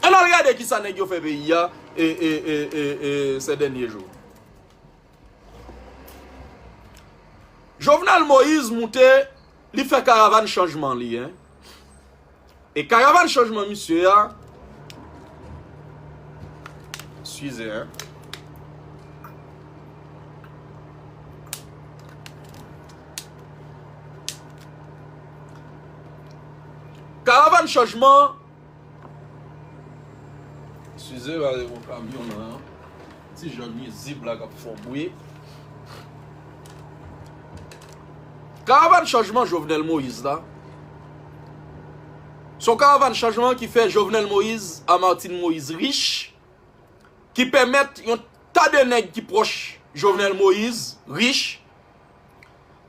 An al gade kisa neg yo fe peyi a se denye jou. Jovenel Moise moute li fe karavan chanjman li. E karavan chanjman misye a. Size an. Karavann chanjman an Size va gen yon kamyon nan an Ti jan nwizib la k ap fè w bwi Karavann chanjman Jovenel Moïse la S on karavann chanjman ki fè Jovenel Moïse a Martine Moïse rich Ki pèmèt yon ta de nèg ki pwòch Jovenel Moïse rich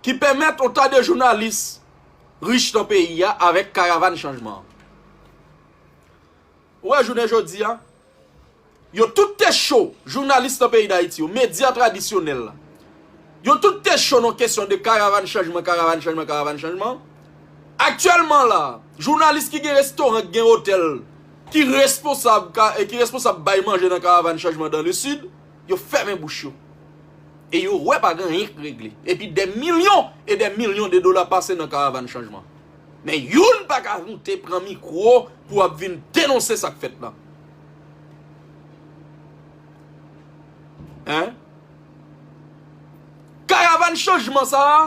ki pèmèt yon ta de jounalis rich nan peyi a avèk karavann chanjman an. Ou wè jounen jodi a, yo tout te cho, jounalis nan peyi Dayiti yo, medya tradisyonèl la, yo tout te cho nan kesyon de karavann chanjman, karavann chanjman, karavann chanjman. Aktyèlman la, jounalis ki gen restoran, ki gen otèl, ki responsab bay manje nan karavann chanjman dan le sid, Yo fèmen bouch yo. E yo wè pa gen anyen k regle. Epi dè milyon e dè milyon de dola pase nan karavann chanjman. Men youn pa ka moute pran mikwo pou ap vin denonse sa k fèt la. Hein? Karavann chanjman sa a,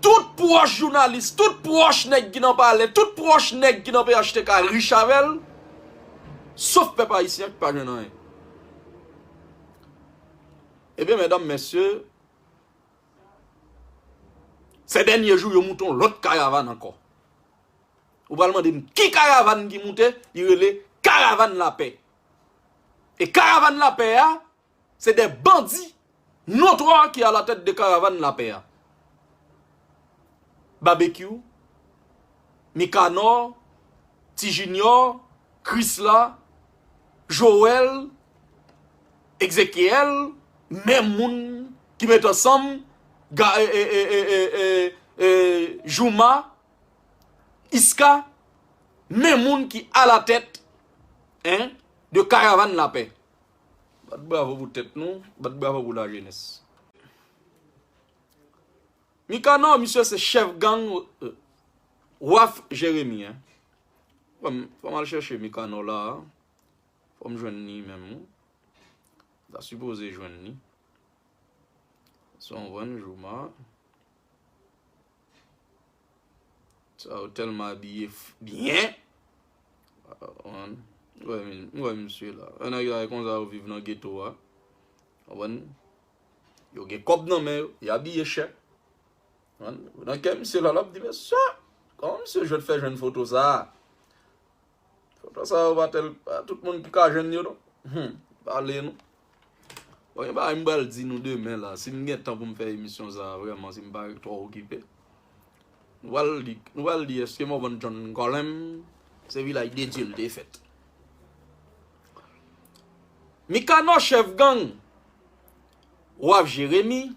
tout pwòch jounalis, tout pwòch nèg ki nan palè, tout pwòch nèg ki nan phtk rich avè l. Sof pèp ayisyen ki pa jwenn anyen. Ebyen mèdanm mèsye, se dènye jou yo moute yon lòt karavan ankò. Ou pral mande m ki karavan ki moute, li rele karavan lapè. E karavan lapè a, Se de bandi notwa ki a la tèt de karavann lapè a. Babekyou, Mikanò, Ti Jinyò, Krisla, Jowèl, Ekzekyèl, menm moun ki met ansanm Jouma, Iska, menm moun ki a la tèt de karavann lapè. Bat bravo pou tèt nou, bat bravo pou lajenès. Mikanò, misye se chèf gang Waf Jeremi. Fò m al chèche Mikanò la a. Fò m jwenn ni menm. Ta sipoze jwenn ni. Son vwenn jouman. Sa ou telman abiye byen. M wè misye la. Yon nèg la e konsa yo viv nan geto a. Yo gen kòb nan men yo. Yo abiye chè. Nan kè misye la lap di mesye. Kòman misye jwèt fè jwenn foto sa a. Foto sa yo pa tel, pa tout moun ki ka jwenn yo non. Hum, pale nou. Bon, yon bagay m pral di nou demen la, si m gen tan pou m fè emisyon sa a vrèman, si m pa twò okipe. Nou pral di, nou pral di eske Morvan John Colem se vilaj de Dye l te fèt. Mikano chèf gang Waf Jeremi.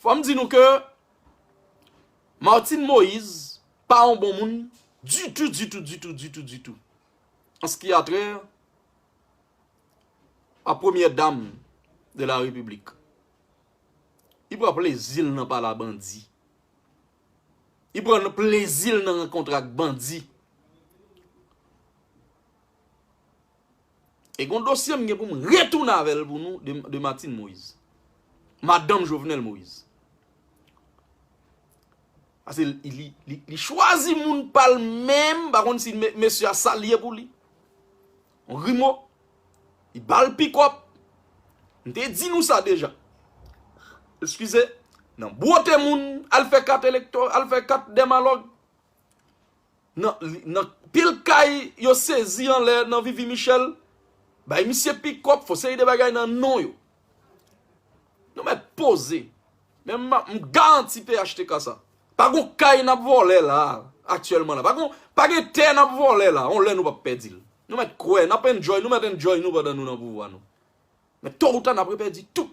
Fòm di nou ke Martine Moise pa yon bon moun ditou ditou ditou ditou ditou an ski atrè a premyè dam de la repiblik. Li pran plezi l nan pale a bandi. Li pran plezi l nan rankontre ak bandi. E gon dosye m gen pou m retounen avè l pou nou de Martine Moise. Madanm Jovenel Moise. Ase li chwazi moun pa l menm, m pa konn si mesye a sa l ye pou li. On rimo. Li ba l pikòp. M te di nou sa deja. Eskize. Nan bwote moun, al fè kat elektò, al fè kat dèmalòg. Nan pil kay yo sezi anlè nan vivi michel bay misye pikòp fò seri de bagay nan non yo nou mèt poze men m garanti phtk sa pa gon kay nap vòlè la aktyèlman la pa gen tè nap vòlè la yon lè nou pap pèdi l nou mèt kwè nap enjoy nou mèt enjoy nou pandan nou nan pouvwa nou men to ou ta nap repèdi tout.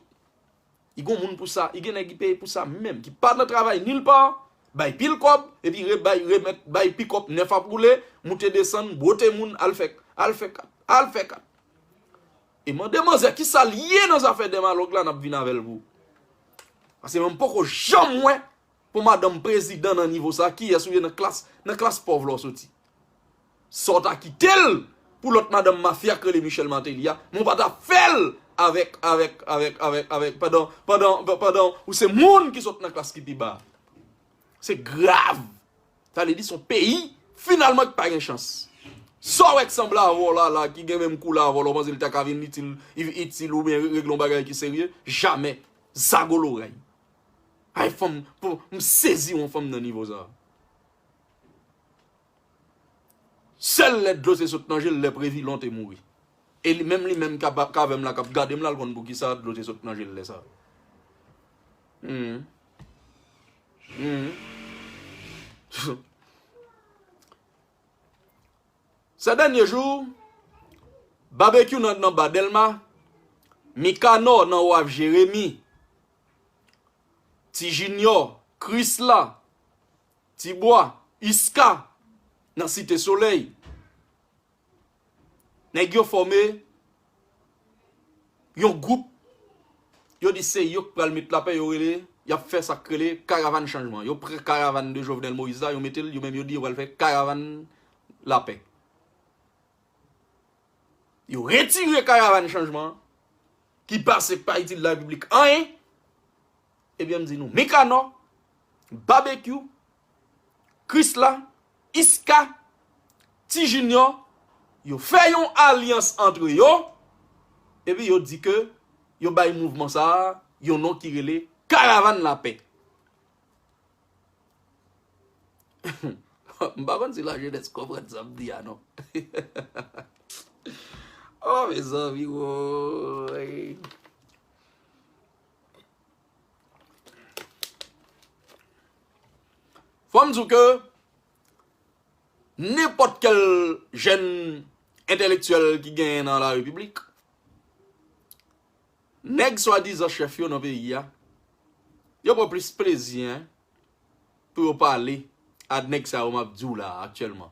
I gon moun pou sa, i gen nèg i peye pou sa menm ki pa nan travay nil pa, bay pil kòb, epi re bay remèt, bay pikòp nèf ap woule, moute desann, bwote moun, al fè, al fè kat, al fè kat. E mande manzè ki sa l ye nan zafè dèmalòg la n ap vin avè l pou. Pase mwen m poko janm wè pou madanm prezidan nan nivo sa, kiyès ou ye nan klas, nan klas pòv la w soti. Sa w ta kite l pou lòt madanm mafya k rele Michel Martelly a, men w pa ta fè l avèk, avèk, avèk, avèk, avèk, pandan, pandan, pandan ou se moun ki sot nan klas ki pi ba a. Se grav! Sa vle di se yon peyi finalman ki pa gen chans. Sa w wè k sanble avè w la, la, ki gen menm koulè avè w la, w panse l ta ka vin itil, itil oubyen regle yon bagay ki serye? Jamè! Zago lorèy! Ay fanm, m sezi wè yon fanm nan nivo sa a. Sèl lè dlo te sot nan je l lè Previlon te mouri. E li menm li menm k ap avè m la k ap gade m la l konn poukisa dlo te sot nan je l lè sa. Sè dènye jou, Babekyou nan nan ba Dèlma, Mikanò nan waf Jeremi, Ti Jinyò, Krisla, Ti bwa, Iska, nan Site Solèy. Nèg yo fòme yon gwoup, yo di se yo k pral met lapè, yo rele, y ap fè sa k rele Karavann Chanjman. Yo pran karavann de Jovenel Moïse la, yo mete l, yo menm yo di yo pral fè Karavann Lapè. Yo retire Karavann Chanjman an, ki pase k pa itil Larepiblik anyen, ebyen m di nou, Mekanò, Babekyou, Krisla, Iska, Ti Jinyò, yo fè yon alyans antre yo, epi yo di ke yo bay mouvman sa a yon non ki rele Karavàn Lapè. M pa konn si lajenès konprann sa m di a non. O mezanmi woy! Fò m di w ke nenpòt kèl jèn entelektyèl ki genyen nan la repiblik, nèg swadizan chèf yo nan peyi a, yo pran plis plezi pou yo pale ak nèg sa yo m ap di w la a aktyèlman.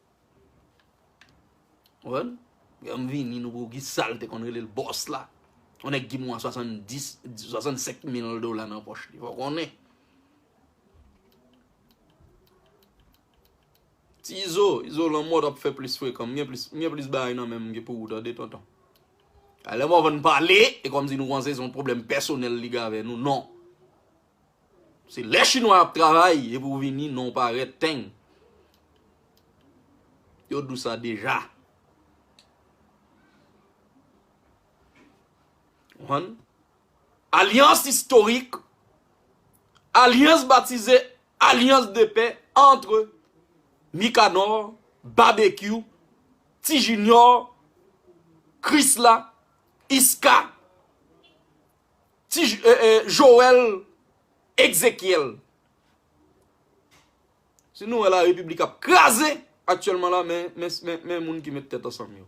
Konprann? Yom vini nou pou ki sal te konn rele l boss la. Yon nèg ki mwa 70, 65 mil dola nan poch li. Fò konnen. Ti izo, izo lanmò tap fè plis frekan. M gen plis, m gen plis bagay nan menm ke pou ou tande tonton. Alè mò van pale, e kòm si nou konse son pwoblèm pèsonèl li gen avè nou. Non. Se lè chinwa ap travay epi ou vini non pa ret teng. Yo di w sa deja. Konprann? Alyans istorik, alyans batize, alyans de pè antre Mikanor, Babekyou, Ti Jinyò, Krisla, Iska. Ti Joel Exekiel. Si nou wè la repiblik ap kraze aktyèlman la men men moun ki met tèt ansanm yo.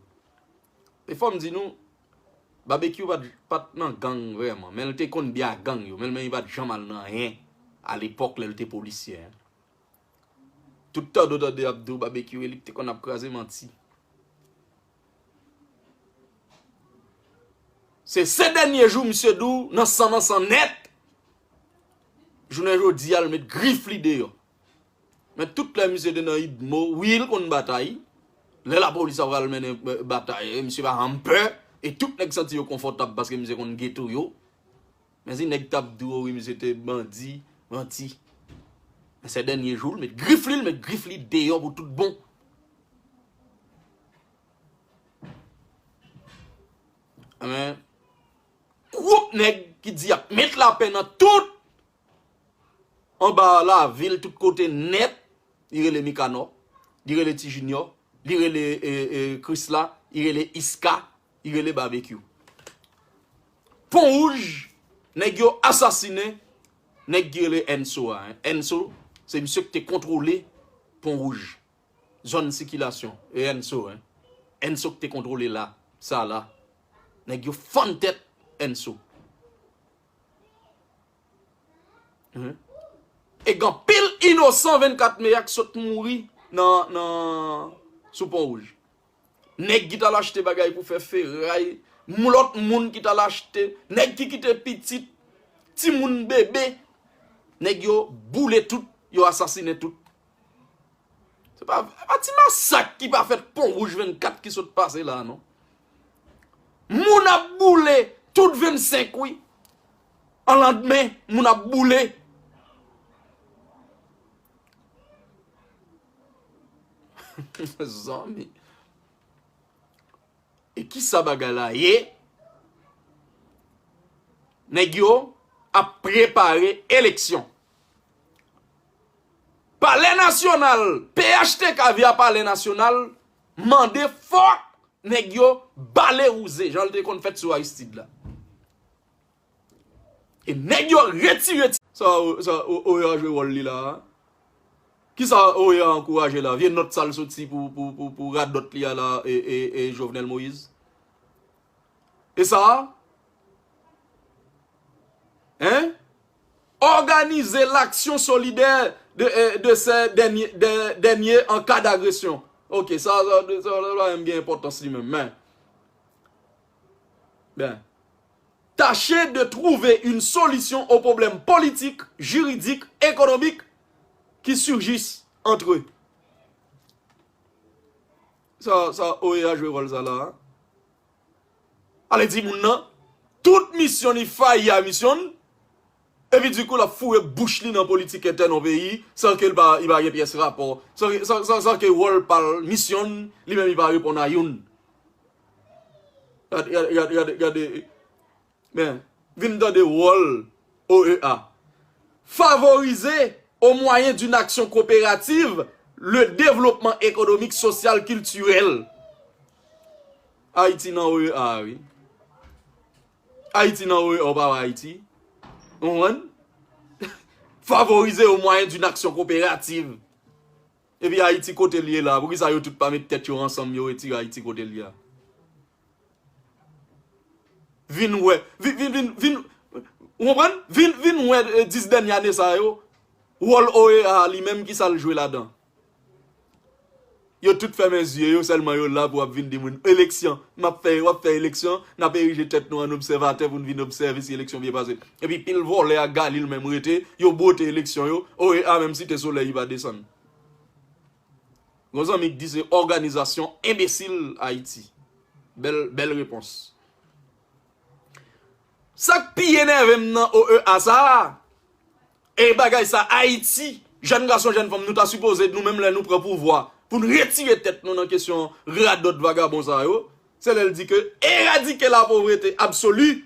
E fòm di nou Babekyou pat nan gang vrèman men l te konn byen ak gang yo men men li pat janm al nan anyen a lepòk lè l te polisyè. Tout tande w tande y ap di w Babekyou e li k te konn ap kraze manti. Se se dènye jou misye di w nan san nan san nèt, jounen jodi a l met grif li deyò. Men tout lè misye te nan udmo, wi l konn batay, lè lapolis ap pral mennen batay misye pa janm pè e tout nèg santi yo konfòtab paske misye konn geto yo. Mezi nèg tap di owi misye te bandi, manti. Nan sè dènye jou l met grif li, l met grif li deyò pou tout bon. Anben, gwoup nèg ki di yap met lapè nan tout, anba lavil tout kote nèt, li rele Mikanò, li rele Ti Jinyò, li rele Krisla, li rele Iska, Li rele Babekyou. Pon wouj nèg yo asasinen nèg ki rele Enso a. Enso se misye ki te kontwole pon wouj. Zòn sikilasyon. E Enso. Enso ki te kontwole la. Sa la. Nèg yo fann tèt Enso. E gen pil inosan 24 me a ki sot mouri nan sou pon wouj. Nèg ki t al achte bagay pou fè feray, lòt moun ki t al achte, nèg ki kite pitit, timoun bebe, nèg yo boule tout, yo asasinen tout. Se pa ti masak ki pa fèt Pon Wouj 24 ki sot pase la non. Moun ap boule tout 25 wi. An landmen moun ap boule. Mezanmi. E kisa bagay la ye? Nèg yo ap prepare eleksyon. Palè nasyonal, phtk via palè nasyonal, mande fòk nèg yo bale wouze jan l te konn fèt sou Aristide la. E nèg yo retire ti. Sa oea jwe wòl li la a? Kisa oea ankouraje la? Vye nòt sa l soti pou radòt li a la e Jovenel Moïse? E sa a? Hein? Organiser l'action solidaire de ces derniers en cas d'agression. Ok, sa a pa menm gen enpòtans li menm. Men, Tache de trouve yn solisyon o pwoblèm politik, jiridik, ekonomik ki surjis antre. Sa sa OEA jwe wòl sa la a? Ale di moun nan, tout misyon li fayi a misyon l, epi dikou l ap foure bouch li nan politik entèn yon peyi san ke l pa li pa gen pyès rapò, san ke wòl pa l, misyon l, li menm li pa reponn a youn. Vin tande wòl OEA. Favorize, o mwayen d'une action coopérative, le développement économique, social, culturel. Ayiti nan OEA a wi. Ayiti nan OEA ou pa wè Ayiti. Ou konprann? Favorize, o mwayen d'une action coopérative. Epi ayiti kotel ye la. Poukisa yo tout pa met tèt yo ansanm yo retire ayiti kotel ye a. Vin wè vin ou konprann vin wè 10 dènye ane sa yo wòl OEA a li menm kisal jwe ladan. Yo tout fèmen zye yo sèlman yo la pou ap vin di moun eleksyon map fè wap fè eleksyon nap erije tèt nou an obsèvatè poun vin obsève si eleksyon byen pase. Epi pil vòlè ak galil menm rete yo bwote eleksyon yo oea menm site solèy ipa desann gon zanmi k di se òganizasyon enbesil ayiti bèl bèl repons sak pi enèvem nan oea sa e bagay sa ayiti jèn gason jèn fanm nou ta sipoze nou menm lè nou pran pouvwa poun retire tèt nou nan kesyon radòt vagabon sa yo se lèl di ke eradike lapovrete absoli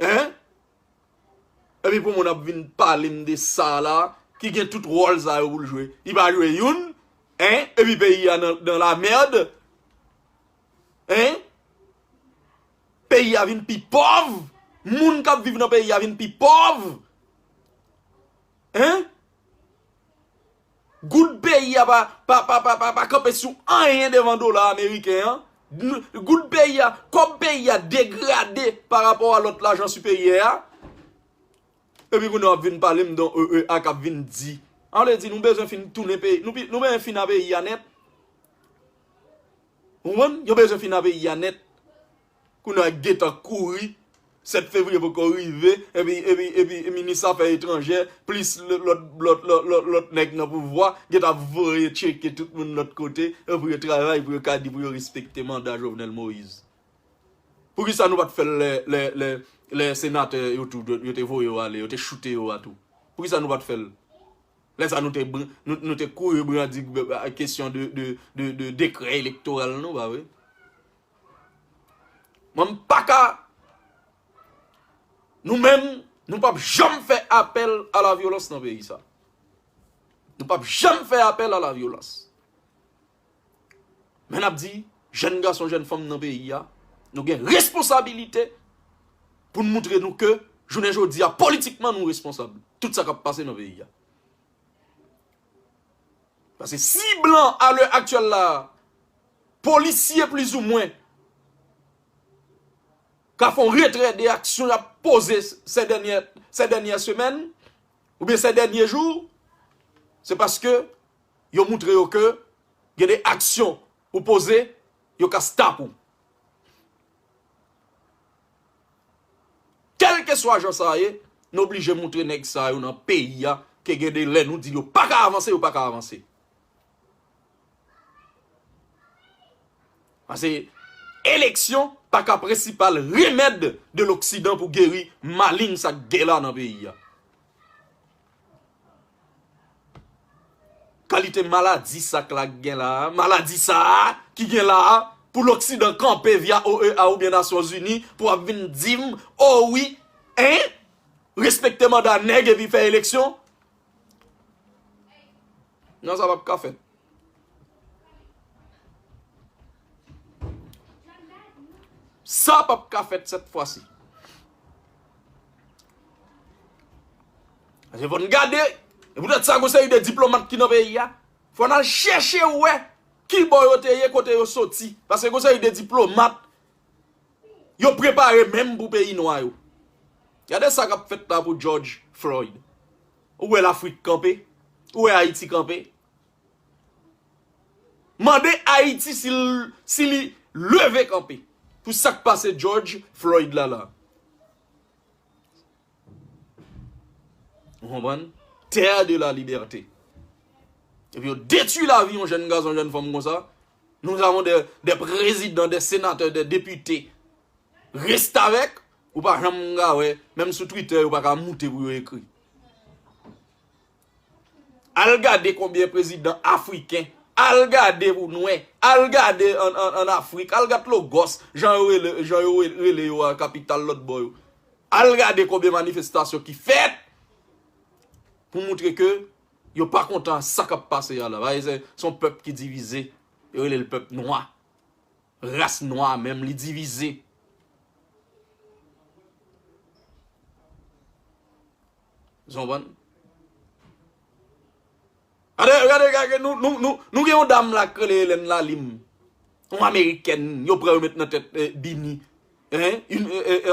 Hein? Epi pou moun ap vin pale m de sa la, ki gen tout ròl sa yo pou l jwe. Li pa jwe youn, hein? Epi peyi a nan la merde. Hein? Peyi a vin pi pòv. Moun k ap viv nan peyi a vin pi pòv. Hein? Goud peyi a pa kanpe sou anyen devan dola ameriken an. Goud peyi a, kòb peyi a degrade pa rapò a lòt lajan siperyè a. E pi kounye a w ap vin pale m don OEA k ap vin di. A vle di nou bezwen fin tounen peyi, nou bezwen fin a peyi a nèt. Ou konprann? Yo bezwen fin a peyi a nèt. Kounya gentan kouri 7 fevriye poko rive epi epi epi minis afè etranjè plis lòt lòt lòt lòt nèg nan pouvwa gentan ap voye tcheke tout moun lòt kote pou yo travay pou yo ka di pou yo respekte manda Jovenel Moïse poukisa nou pat fèl lè lè lè lè senatè yo tou yo te voye yo ale yo te choute yo a tou poukisa nou pat fèl lè sa nou te bri nou te kouri brandi kesyon de de de dekrè elektoral nou pa vre. Mwen m paka Nou menm Nou pap janm fè apèl a la vyolans nan peyi sa Nou pap janm fè apèl a la vyolans Men nap di jèn gason jèn fanm nan peyi a Nou gen responsabilite Poun moutre nou ke Jounen jodi a politikman nou responsab Tout sa kap pase nan peyi a Paske si blan a lè aktyèl la a, polisye plizoumwen ka fon retrè de aksyon y ap poze sè dènyè sè dènyè semèn oubyen sè dènyè jou, se paske yo moutre yo ke gen de aksyon ou poze yo ka stop ou. Kelkeswa jan sa ye, n oblije moutre nèg sa yo nan peyi a ke gen de lè nou di yo pa ka avanse, yo pa ka avanse. Pase eleksyon pa ka prensipal remèd de loksidan pou geri malin sa k gen la nan peyi a. Kalite maladi sa k la k gen la a, maladi sa a ki gen la a pou loksidan kanpe via OEA oubyen Nasyon Zini pou ap vin di m o wi en respekte manda nèg epi fè eleksyon? Non sa pap ka fèt. Sa pap ka fèt sèt fwa si. Ase fòn gade, e pou tèt sa gose yi de diplomat ki nan ve yi a, fòn al chèche wè ki bò yo te ye kote yo soti. Pase gose yi de diplomat, yo prepare menm pou peyi nwa yo. Gade sa kap fèt la pou George Floyd. Ou wè lafrik kanpe? Ou wè Ayiti kanpe? Mande Ayiti si li leve kanpe pou sa k pase Jòj Floyd la la. Ou konprann? Terre de la liberté. Epi yo detui lavi yon jèn gason, yon jèn fanm konsa. Nous avons des présidents, des sénateurs, des députés restavèk. Ou pa janm ka wè, menm sou Twitter yo pa ka moute pou yo ekri. Al gade konbyen prezidan afriken, al gade pou nou wè, al gade an Afrik, al gade Logos, jan yo rele, jan yo rele yo a kapital lòt bò yo. Al gade konbyen manifestasyon ki fèt pou moutre ke yo pa kontan sa k ap pase a la. Ba e se, se yon pèp ki divize, yo rele l pèp nwa. Ras nwa a menm li divize. Zon van. Gade gade gade nou nou nou nou gen yon dam la k rele Elen la lim. Yon amerikèn yo pran yo met nan tèt bini. Hein yn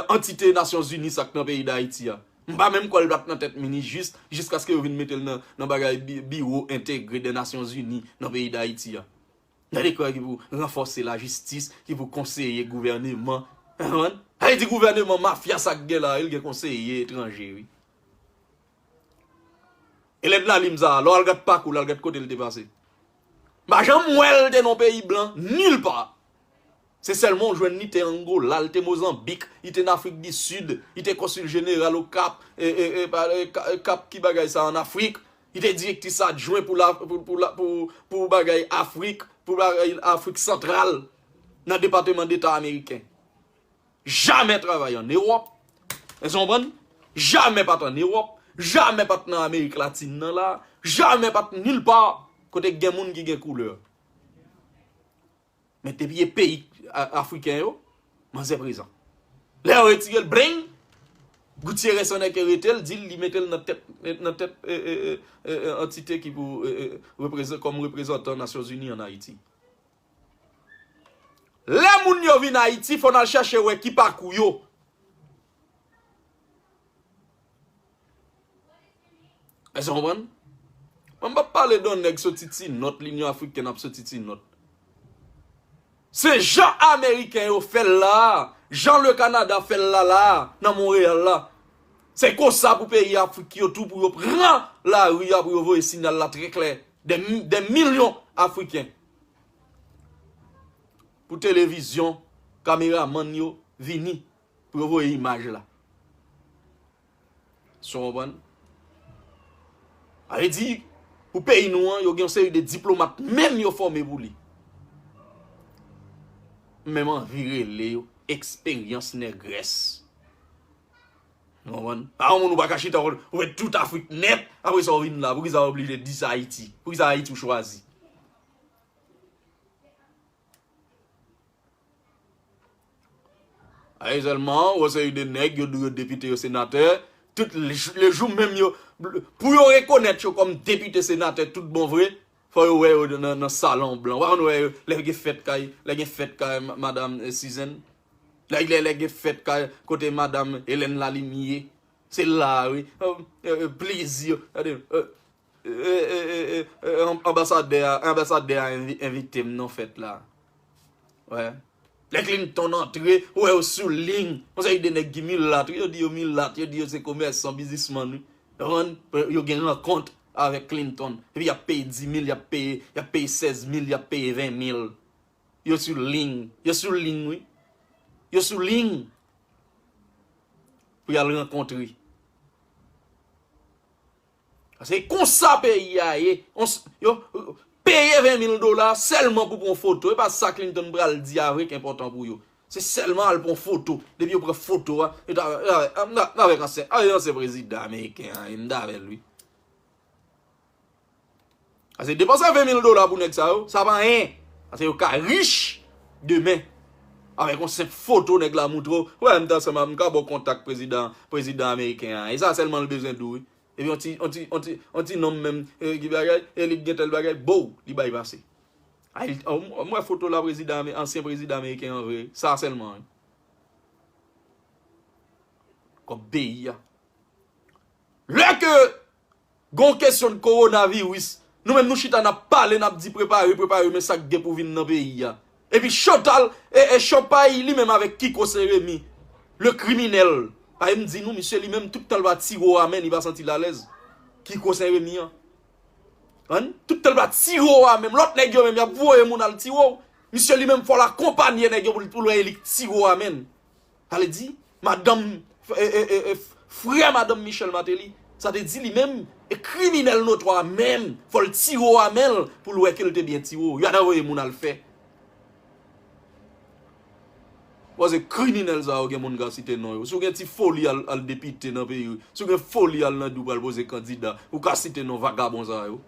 antite nasyon zini sak nan peyi dayiti a. M pa menm kwè l pat nan tèt mini jis jiskaske yo vin metel nan bagay biwo entegre dè nasyon zini nan peyi dayiti a. Yon dekrè ki pou ranfòse lajistis, ki pou konseye gouvèneman. Ou konprann? Sa vle di gouvèneman mafya sa k gen la, li gen konseye etranje wi. Elèn nan li m sa a, lè w al gad pakou l, al gad kote l te pase. M pa janm wè l te nan yon peyi blan, nil pa. Se sèlman w jwenn li te Angola, li te Mozanbik, li te nan Afrik di Sid, li te konsil jeneral Okap, Kap ki bagay sa an Afrik, li te direktis adjwen pou bagay Afrik, pou bagay Afrik Santral nan Depateman Deta Ameriken. Jamè travay an Ewòp, èske nou konprann? Jamè pa t an Ewòp, jamè pa t nan Amerik Latin nan la, jamè pa t nil pa kote gen moun ki gen koulè. Men depi e peyi afriken yo, manzè prezan. Lè yo retire l bling, Gutierrez san nèke rete l di l li mete l nan tèt nan tèt antite ki pou kòm reprezantan Nasyon Zini an Ayiti. Lè moun yo vin Ayiti fò n al chache wè ki pakou yo. Èske nou konprann? Mwen m pa p pale de nèg soti ti nòt, linyon afriken ap soti ti nòt. Se jan ameriken yo fè l la a, jan le Kanada fè l la la a, nan Monreyal la. Se konsa pou peyi afrik yo tou pou yo pran lari a pou yo voye sinyal la trè klè. Dè milyon afriken. Pou televizyon, kameramann yo vini. Pou yo voye imaj la. Èske w konprann? Sa vle di, pou peyi nou an, yo gen yon seri de diplomat menm yo fòme pou li. M menm anvi rele yo eksperyans nègrès. Ou konprann? Pa yon moun ou pa ka chita wè ou fè tout Afrik nèt, apre sa ou vin la. Poukisa ou oblije di se Ayiti? Poukisa Ayiti ou chwazi? Ayi selman ou seri de neg yo dou yo depite yo senate tout le jou menm yo pou yo rekonet yo kom depite senate tout bon vre fo yo we yo nan salon blan ou pa konn we yo le gen fet kay le gen fet kay madam sizen le gen fet kay kote madam elen lalimie se la wi plezi yo gade Anbasadè a anbasadè a envite m nan fèt la wè lè Clinton antre ou wè yo sou ling yon seri de nèg ki milat wi yo di yo milat yo di yo se komèsan bizismann wi konprann yo gen rankont avèk Clinton epi y ap peye dimil y ap peye y ap peye sèzmil y ap peye venmil yo sou ling yo sou ling wi yo sou ling pou y al rankontre. Se konsa peyi a ye. Yo peye 20 mil dola sèlman pou pran foto. E pa sa Clinton pral di a vre ki enpòtan pou yo. Se sèlman al pran foto. Depi yo pran foto a. Yo ta vèk ansyen. Ansyen prezidan ameriken an. Yo ta vèk li. Pase depanse 20 mil dola pou nèg sa yo, sa pa anyen. Pase yo ka rich demen. Avèk yon senp foto nèg la moutre w, wè m t ansanm avè m, m ka ba w kontak prezidan, prezidan ameriken an. E sa sèlman l bezwen di w wi. Epi yon ti, yon ti, yon ti, yon ti nonm menm, e ki bagay, e li k gen tèl bagay, bow, li bay pase. Ay, m wè foto la prezidan ame, ansyen prezidan ameriken an vre. Sa sèlman wi. Kòb peyi a. Lè ke Gon kesyon korona viris nou menm nou chita nap pale nap di prepare prepare men sak gen pou vin nan peyi a epi chantal ee chanpay li menm avèk kiko se remi le kriminèl pae m di nou misye li menm tout tan li pa tiro a men li pa santi l alèz kiko se remi an ann tout tan li pa tiro a men lòt nèg yo menm yap voye moun al tiro misye li menm fòl akonpanye nèg yo pou l wè e li k tiro a men sa vle di. Madanm frè madanm Michel Martelly sa te di li menm e kriminèl notwa a menm fò l tiro a men l pou l wè ke l te byen tiro yo ta voye moun al fè koze kriminèl sa yo gen moun ka site non yo si w gen ti foli al depite nan peyi si w gen foli al nan di w pral poze kandida ou ka site non vagabon sa yo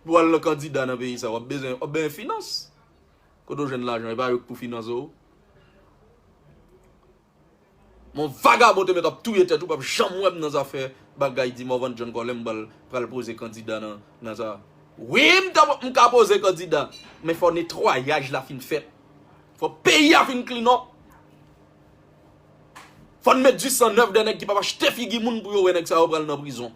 pou al nan kandida nan peyi sa w ap bezwen finans Kote w jwenn lajan epa yo k pou finanse w. Mon vagabon te met ap touye tèt ou pap janm wèm nan zafè bagay di Morvan John Colem bal pral poze kandida nan nan sa wi m ta m ka poze kandida men fò netwayaj la fin fèt fò peyi a fin klin up fò n met du sang nèf dè nèg ki pap achte figi moun pou yo wè nèg sa yo pral nan prizon.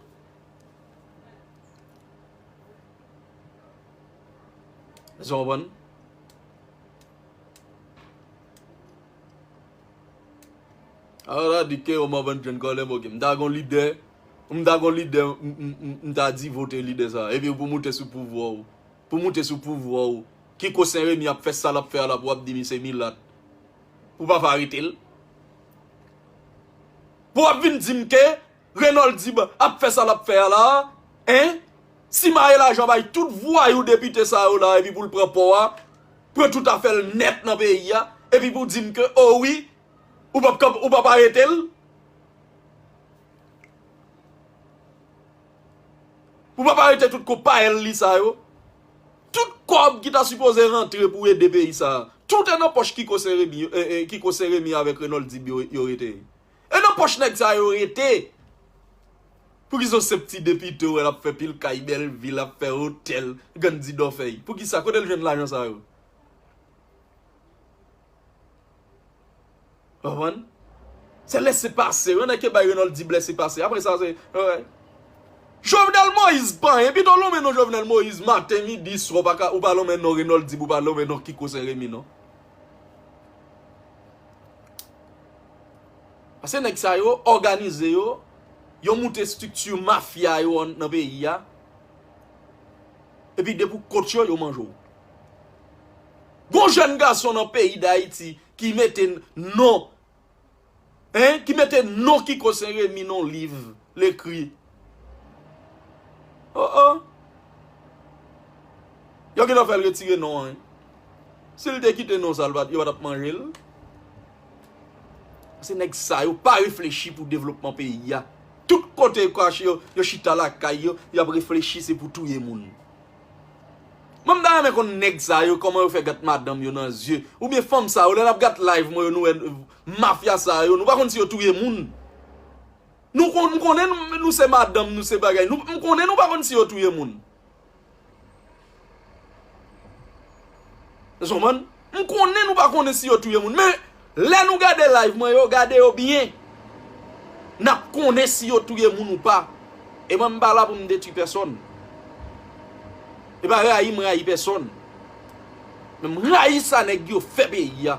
Èske w konprann? A ou ta di K-o mòvan jèn kòlè bòkè. M ta gon lide, m ta gon lide m ta di vote lide sa. E pi pou moute sou pouvwa ou. Pou moute sou pouvwa ou. Kiko Senremi ap fè sa l ap fè a la pou w ap di li se milat. Pou w pa fè arete l. Pou w ap vin di m ke Renoldib ap fè sa lap fè a la hein simaye lajan bay tout vwayou depite sa yo la epi poul pran pò a pran tout afèl nèt nan peyi a epi pou dim ke oh wi ou pap k ou pap aretel ou pap arete tout konpayèl li sa yo tout kòb ki ta sipoze rantre pou ede peyi sa tout nan pòch kiko seremi kiko seremi avèk renoldib yo rete. E nan poch nèg sa yo rete. Poukisa se pti depite wè lap fè pil kay belvi lap fè otèl gann di dòfèy poukisa kote l jwenn lajan sa yo. Konprann se lese pase yon nèg ki bay Renold di blese pase apre sa se wè. Jovenel Moïse pa anyen pito lonmen non Jovenel Moïse maten midi swa ou pa lonmen non Renold di pou pa lonmen non kiko senremi non. Pase nèg sa yo òganize yo, yo moute estrikti mafya yo nan peyi a, epi depi ou kont yo, yo manje w. Gon jèn gason nan peyi Dayiti ki mete non Hein ki mete non kiko se remi non liv lekri oh oh yo gentan fèl retire non an sil te kite non sa yo patap manjel se nèg sa yo pa reflechi pou devlopman peyi a tout kote yo kache yo yo chita lakay yo yap reflechi se pou touye moun. Mwen m ta renmen konn nèg sa yo kòman yo fè gat madanm yo nan zye oubyen fanm sa yo lè nap gat live mwen yo nou wè mafya sa yo nou pa konn si yo touye moun nou konn m konnen nou se madanm nou se bagay nou m konnen nou pa konn si yo touye moun. Eskonprann? M konnen nou pa konnen si yo touye moun men lè nou gade live mwen yo gade yo byen nap konnen si yo touye moun ou pa e mwen m pa la pou m detwi pèsòn e pa rayi m rayi pèsòn men m rayi sa nèg yo fè peyi a.